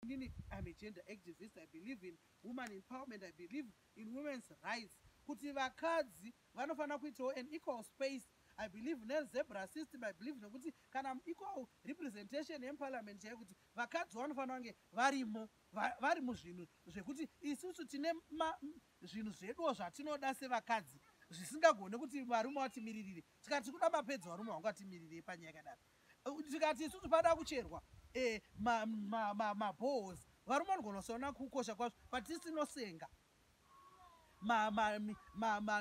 Inini I'm a gender activist, I believe in woman empowerment, I believe in women's rights. Kuti vakadzi vanofanira kuitawo an equal space I believe ne zebra system I believe nekuti kana equal representation in parliament chaiyo kuti vakadzi vanofanira kunge varimo vari muzvinhu zvekuti isusu tine zvinhu zveduwo zvatinoda sevakadzi zvisingagone kuti varume vatimiririre tikati kuda mapedzi varume vangatimirire panyaya yakadaro tikati isusu pada kucherwa eh, mabohos varume vanogona kusaona kukosha kwazvo but tisinosenga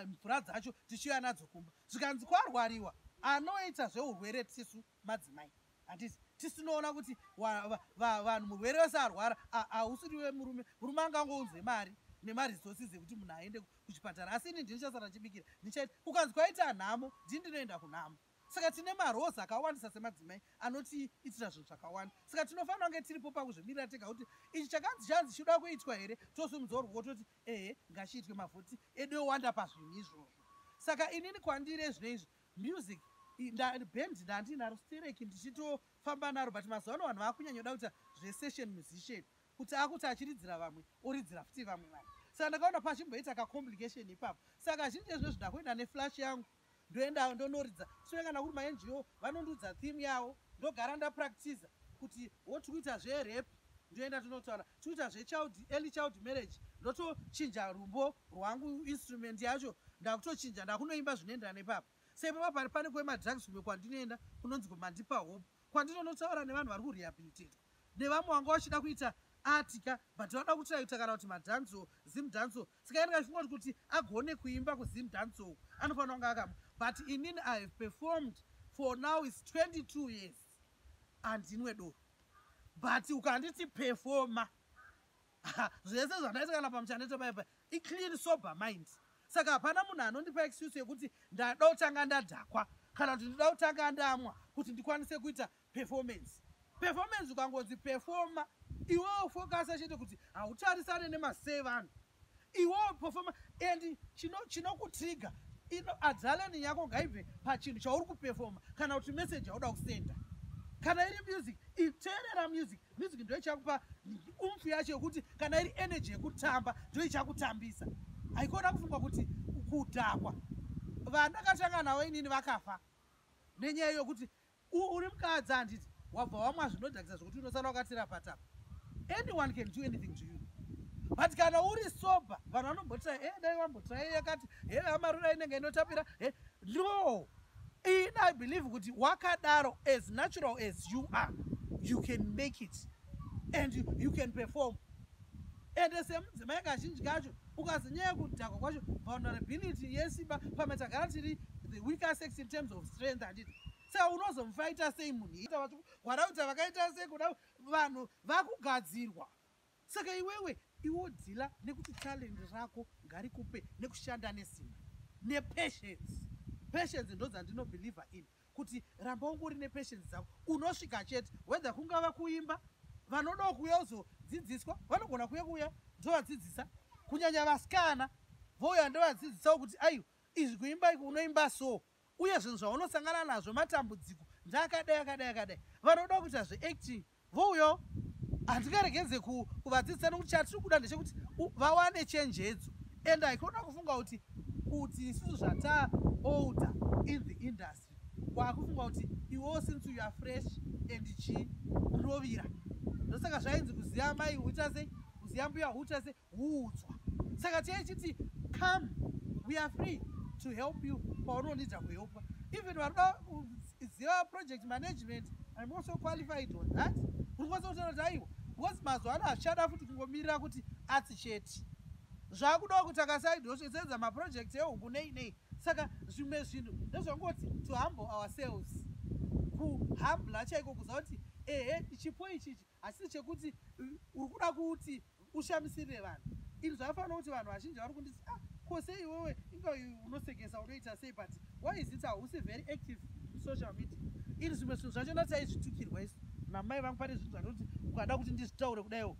mvura dzacho tichiuya nadzo kumba zvikanzi kwarwariwa anoita zveurwere tisu madzimai handiti tisinoona kuti vanhu murwere wese arwara hausiri wemurume murume angangounze mari nemaresources ekuti munhu aende kuchipatara asi ini ndinichasara chibikira ndichaita kukanzi kwaita nhamo ndii ndinoenda kunhamo Saka tine maroles akawandisa semadzimai anotiitira zvinhu zvakawanda. Saka tinofanira kunge tiripo pakuzvimirira tega kuti ichi chakanzi chanzi chinoda kuitwa here, tosimudzawo ruoko toti ehe ngachiitwe mavhoti edu yowanda pazvinhu izvozvo. Saka inini kwandiri ezvino izvi music band ndandiinaro stereki ndichitofamba naro but mazuva ano vanhu vakunyanyoda kuita zvesession musician kuti akuti achiridzira vamwe oridzira futi vamwe vanhu saka ndakaona pachimboita kacomplication ipapo saka zhinji ezvino zvindakuenda neflash yangu ndoendawo ndonoridza sure kana kuri mango vanondiudza theme yawo ndogara ndapractiza kuti wo tiri kuita zverep ndoenda tonotaura tiri kuita zvechild early child marriage ndotochinja rumbo rwangu instrument yacho ndakutochinja ndakunoimba zvinoenderana nepapa seipapa pari pane kwemadrugs kumwe kwandinoenda kunonzi kumandipa hope kwandinonotaura nevanhu vari kurehabilitatwa nevamwe wanga wachida kuita atika but vanoda kutraita kana kuti madanso zim danso Tsika yanga isingoti kuti agone kuimba kuZim dance uku anofanira kunge akam but inini I have performed for now is 22 years andinwe doro but ukanditi performa zvese zvandaita kana pamuchanete paipa iclean sober mind saka hapana munhu anondipa excuse yekuti ndada kutanga ndadhakwa kana kuti ndida kutanga ndamwa kuti ndikwanise kuita performance performance ukangonzi performa iwewo fokasa chete kuti hautarisane nemasei vanhu iwewo performa and chinokutrigger chino ino adrenaline yako ngaibve pachinhu chauri kuperforma kana kuti message yauda kusenda kana iri music iterera music music ndo ichakupa umfu yacho yekuti kana iri energy yekutamba ndo ichakutambisa haikona kufunga kuti kudhakwa vandakatanga navo inini vakafa nenyaya yokuti U, uri mukadzi handiti wabva wamwa zvinodhakisa zvokuti unosara wakatira patapa anyone can do anything to you but kana uri sober vanhu vanombotira e eh, dai vambotira iye yakati e eh, amarura inenge inotapira e eh, no ini i believe kuti wakadaro as natural as you are you can make it and you, you can perform and semudzimai kazhinji kacho ukazinyaya kudhakwa kwacho vulnerability yesimba pamwe tagara tiri the weaker sex in terms of strength handiti saka unozomufaita sei munhu ita vachikwara kuti vakaita sei kuda vanhu vakugadzirwa saka iwewe iwo dhila nekuti talent rako ngarikupe nekushanda nesimba nepatience patience ndodzandinobelieve in kuti ramba wangu uri nepatience dzako unosvika chete whether kungava kuimba vanodawo kuuya kuzodzidziswa vanogona kuuya kuuya ndovadzidzisa kunyanya vasikana vouya ndovadzidzisawo kuti aiwa izvi kuimba iko unoimba so uye zvinhu zvaunosangana nazvo matambudziko ndaakadai akadai akadai vanoda kuita zveacting vo uyo handingaregenze kuvadzidzisa nokuti chatiri kuda ndechekuti vawane chenjedzo and i cona kufunga kuti kuti isusu zvata older in the industry kwakufunga kuti iwewo since you are fresh and chi rovira ndosaka zvainzi kuziva mai uita sei kuziva mbuya uita sei huudzwa saka chei chiti come we are free to help you paunonidza kuhelpwa even vanoda kuziva project management im also qualified on that uri kwanisa kutaura kuti aiwa because mazuva ano hazvichada futi kungomirira kuti atsi chete zvakudawo kuti akasaidosvetsenza maproject ehuku nei nei saka zvimwe zvinhu ndozvangoti to humble ourselves kuhambla chaiko kuziva kuti ehe chipo ichichi asi chekuti uh, uri kuda kuti ushamisirire vanhu ini zvakafanira kuti vanhu vazhinji vari kunditi ah, ko sei iwewe inga unosekesa unoita sei but why is it hausi very active social media ini zvimwe zvinhu zvacho ndataizvitukirwa isu namai vangu pane zvinhu zvatoti ukada kuti ndizvitaure kudaiwo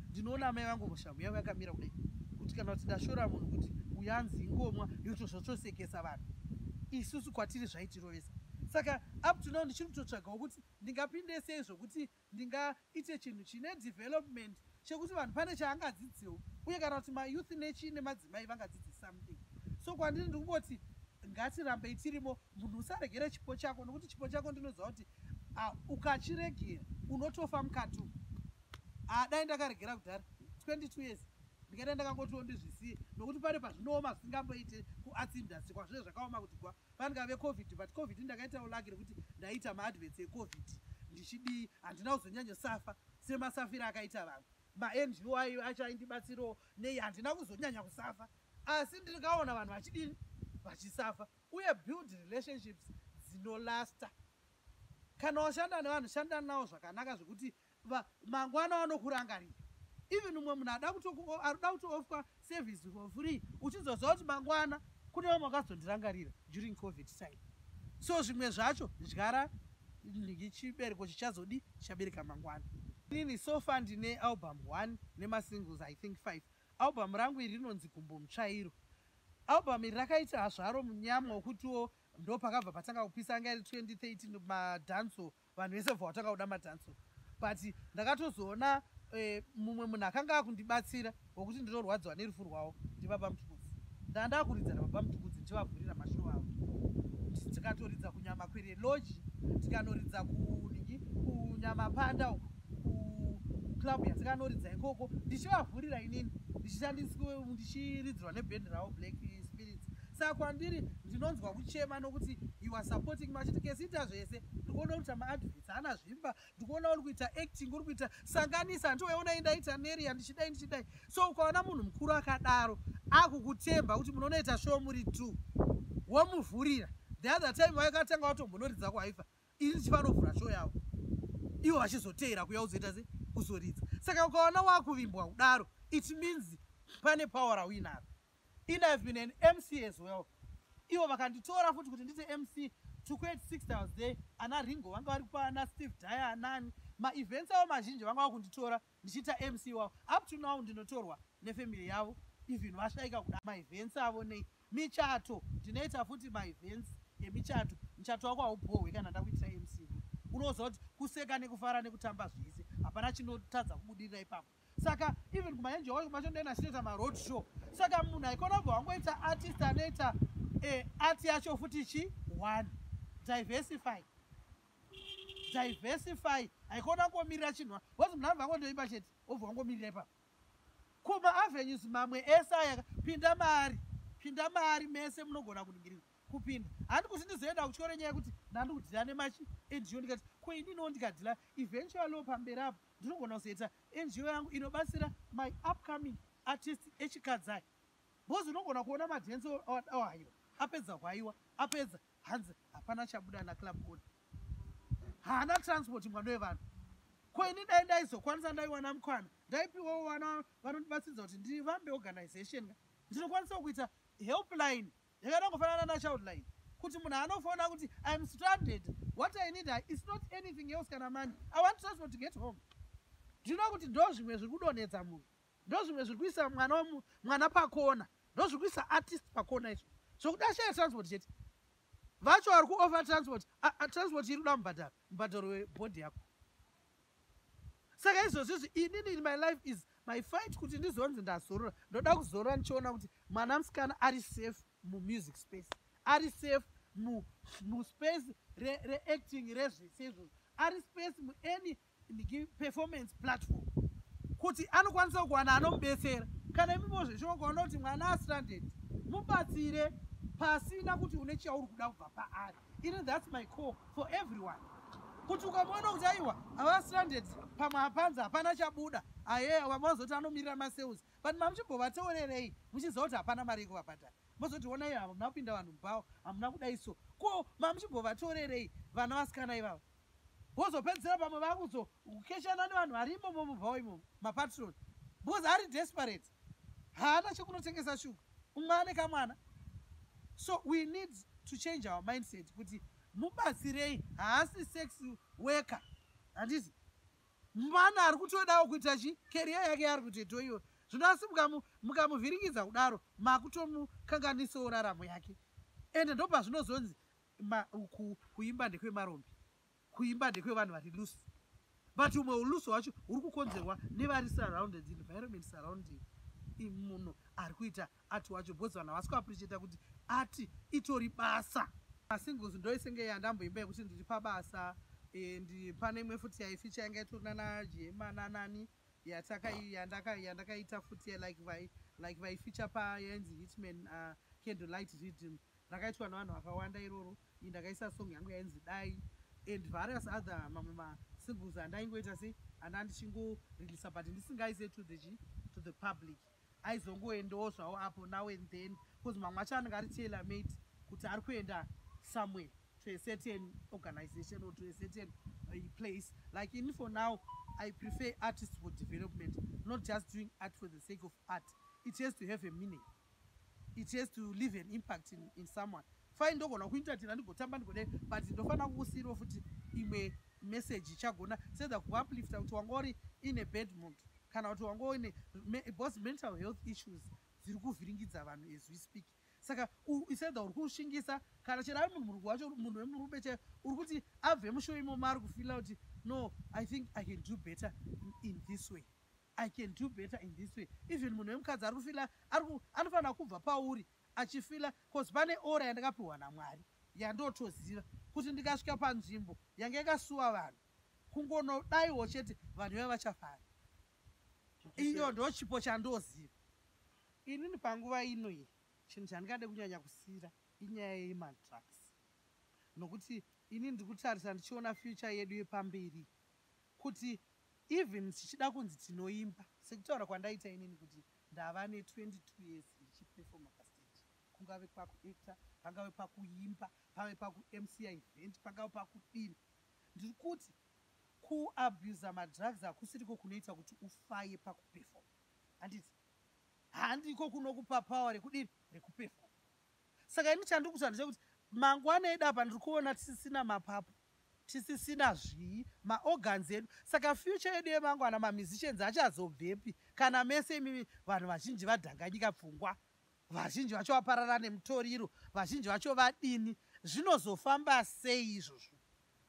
ndinoona amai vangu mushamu yavo yakamira kudai kuti kana kuti ndashora munhu kuti uyanzi ingomwa yotozvotosekesa vanhu isusu kwatiri zvaitirovesa saka up to now ndichiri kutotsvagawo kuti Ndingapinde sei zvokuti ndingaite chinhu chine development chekuti vanhu pane chaangadzidzewo uye kana kuti mayouth nechii nemadzimai vangadzidze something so kwandiri ndikungoti ngatirambei tirimo munhu usaregere chipo chako nokuti chipo chako ndinoziva kuti ah, ukachiregera unotofa mukatu ah, dai ndakaregera kudhara 22 years ndingadai ndakangotiwo ndizvisiye nokuti pane pazvinooma zvisingamboite kuarts industry kwazvine zvakaoma kuti kwa Pangave covid but covid ndakaitawo lucky rekuti ndaita maadverts ecovid ndichidii handina kuzonyanyo safa semasafira akaita vamwe mango ayo acho aindibatsirawo nei handina kuzonyanya kusafa asi ndikaona vanhu vachidini vachisafa uye build relationships dzinolasta kana washanda nevanhu shanda nawo zvakanaka zvekuti va mangwana wanokurangarira even umwe munhu ada kutokuda kutoofwa service for free uchizoziva kuti mangwana kune vamwe vakazondirangarira during covid time so zvimwe zvacho dyara chibereko chichazodi chichabereka mangwana inini sofa ndine album one nemasingles i think five album rangu iri rinonzi gumbo mutsvairo album iri rakaita hazvaro munyama wokutiwo ndo pakabva patanga kupisa anga iri 2013 madanso vanhu vese bva vatanga kuda madanso but ndakatozoona eh, mumwe munhu akanga akundibatsira wokuti ndinorwadziwa nerufu rwawo ndibaba mutukudzi ndaa ndakuridza nababa mutukudzi ndichivavhurira mashoo avo tikatoridza kunyama kwere loji tikanoridza kunii kunyama panda uku kuclub yatikanoridza ikoko ndichivavhurira inini ndichiridzirwa nebhendi ravo black spirits Saka kwandiri ndinonzwa kuchema nokuti you are supporting machiti kesita zvese ndikuona uri kuita maadvits hana zvimba ndikuona uri kuita acting uri kuita sanganisa handiweona indaita neri yandichidai ndichidai so ukaona munhu mukuru akadaro akukutemba kuti munonoita show muri two womuvhurira the other time waikatanga watombonoridza kwaifa ini ndichivanovhura show yavo ivo vachizoteera kuya uzoita se kuzoridza saka ukaona wakuvimbwa kudaro it means pane power rauinaro in i've been an mc as well ivo vakanditora futi kuti ndite mc to create six hours day ana ringo vanga vari kupa ana steve daya anani maevents avo mazhinji vanga va kunditora ndichiita mc wavo up to now ndinotorwa nefamily yavo even vashaika kuda maevents avo nei michato ndinoita futi maevents emichato muchato wako haubhohwe kana ndakuitira mc unoziva kuti kuseka nekufara nekutamba zvese hapana chinotadza kubudirira ipapo saka even kumaenje wacho kumacho ndena sinoita maroad show saka munhu aikona bva wangoita artist anoita eh, art yacho futi chi one diversify diversify haikona ngomirira chinhu bcause munhu anobva angondoimba chete obva wangomirira ipapo ko maavenues mamwe ese aya pinda maari pinda maari mese munogona kuningirira kupinda handi kuti ndizoenda kutyore nyaya yekuti ndandikudhila nemachi endiyo ndikati ko ininiwo ndikadhila eventualio pamberi apo Ndinogona kuzoita NGO yangu inobatsira my upcoming artist echikadzi aya. Bozi unogona kuona madance awadawo haiwa. Apedza hwaiwa, apedza hanzi hapana chabuda na club owner. Haana transport mwana wevanhu. Ko ini dai ndaizokwanisa ndaiwana mukwana. Ndaipiwawo vana vanondibatsiridza kuti ndivambe organization. Ndinokwanisa kuita helpline yakaita kufanana naChildline kuti munhu anofoona kuti iam stranded what i need is not anything else kana mani i want transport to get home ndinoa kuti ndo zvimwe zviri kudonhedza munhu ndo zvimwe zviri kuisa mwana mwana pakona ndo zviri kuisa artist pakona izvo zvokuti ashaya transport chete vacho vari kuofa transport transport iri kuda mubhadharo mubhadharo webhodhi yako saka izvozvizvi inini in my life is my fight kuti ndizonzi ndazorora ndoda kuzorora ndichiona kuti mwana musikana ari safe mumusic space ari safe muspace reacting re rezvese izvozvo ari space muany performance platform kuti anokwanisa kuwana anomubetsera kana imimo zveshoka kuona kuti mwana astranded mubatsire pasina kuti une chauri kuda kubva paari ini thats my call for everyone kuti ukamona kuti aiwa avastranded pamwe hapanzi hapana chabuda aye vamwe vazoti anomirira masales but mamuchimbovateurerei muchiziva kuti hapana mari yekuvabhadhara mozoti ona iyo hamuna kupinda vanhu mubhawa hamuna kudai so ko mamuchimbovateurerei vana vasikana ivava vozopedzisira pamwe vakuzokeshana nevanhu vari imomo mubhawa imomo mapatroni because ari desperate haana chekunotengesa shuga umwe ane kamwana so we need to change our mindset kuti mubatsirei haasi sex worker handiti mwana ari kutodawo kuita chi keriya yake yaari kutoitawo iyoyo zvino asi mukamuvhiringidza kudaro makutomukanganisawo raramo yake ende ndopazvinozonzi Ma, ku, kuimba ndekwemarombe kuimba ndekwevanhu vari loose but umwe ulusi hwacho huri kukonzerwa nevari surrounded environment surrounding munhu ari kuita ati wacho because vanhu havasi kuapricheta kuti ati itori basa asingles ndoisenge yandamboimba yekuti ndiri pabasa and pane imwe futi yaificha yanga itori nana jema nanani yandakaita futi like vaificha payainzi hitman uh, candlelight rhythm Rakaitwa nevanhu vakawanda iroro. Ini ndakaisa song yangu yainzi Dai and various other mamwe ma singles andaingoita se anda ndichingo release but ndisingaise to the chi to the public. Aizongoendawo zvawo apo now and then because mamwe acho anenge ari tailor made kuti ari kuenda somewhere to a certain organization or to a certain uh, place. Like in for now I prefer artists for development, not just doing art for the sake of art. It has to have a meaning. it has to leave an impact in, in someone fine ndogona kuintatira ndigotamba ndigode but ndofanira kukusiirawo futi imwe message ichagona sedza kuuplifta kuti wanga uri in a bad mood kana kuti wanga uine bos mental health issues dziri kuvhiringidza vanhu as we speak saka isedza uri kushingisa kana chero ari munhu muruku wacho munhu wemurume chaiyo uri kuti abve mushowo imomo ari kufila kuti no i think i can do better in this way I can do better in this way even munhu wemukadzi ari kufila anofanira kubva pauri achifila bcause pane ora yandakapiwa namwari yandotoziva kuti ndikasvika panzvimbo yange yakasuwa vanhu kungonodaiwo chete vanhu veva vachafara iyo ndo chipo chandoziva inini panguva ino iyi chinhu chandingade kunyanya kusira inyaya yemadrugs nokuti ini ndiri kutarisa ndichiona future yedu yepamberi kuti even tichida kunzi tinoimba sekutaura kwandaita inini kuti ndava ne 22 years ndichiperfoma pastage kungave pakuacta pangave pakuimba pave pakumc event pangave pakudini ndiri kuti kuabusa madrugs hakusiriko kunoita kuti ufaye pakuperfoma handiti handiko kunokupa power rekudini rekuperfoma saka ini chandiri kuta ndechekuti mangwana edu apa ndiri kuona tisisina mapapu tisisina zvii maorgans edu saka future yedu yemangwana mamusicians achazobvepi kana mese imimi vanhu vazhinji vadhanganyika pfungwa vazhinji vacho vaparara nemutoriro vazhinji vacho vadini zvinozofamba sei izvozvo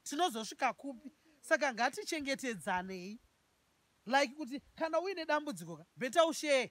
tinozosvika kupi saka ngatichengetedzanei like kuti kana uine dambudziko ka beta ushee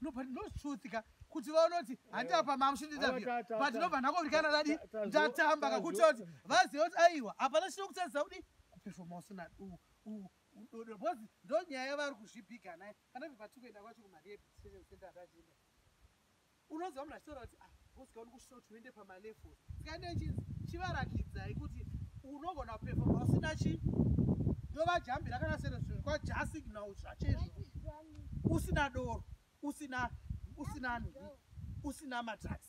no but no truth ka kuti vaona kuti handiti apa mamushindiinterview but ndobva ndakovirikana dadi ndatamba kakuita kuti vaziva kuti aiwa hapana chino kutadzisa kudi kuperfoma usina duu udodo bcause ndonyaya yavari kuzvibiga naye kana kuti patikuenda kwacho kumarehabstation center atachienda unoziva munhu achitaura kuti ah, bosika uri kusvika kuti uende pamalefo sikaende chinzi chivarakidzai kuti unogona kupefoma usina chi ndovajambira kana sere zvinhu kwajasignal zvachezvo usina doro usina usina nhi usina madrugs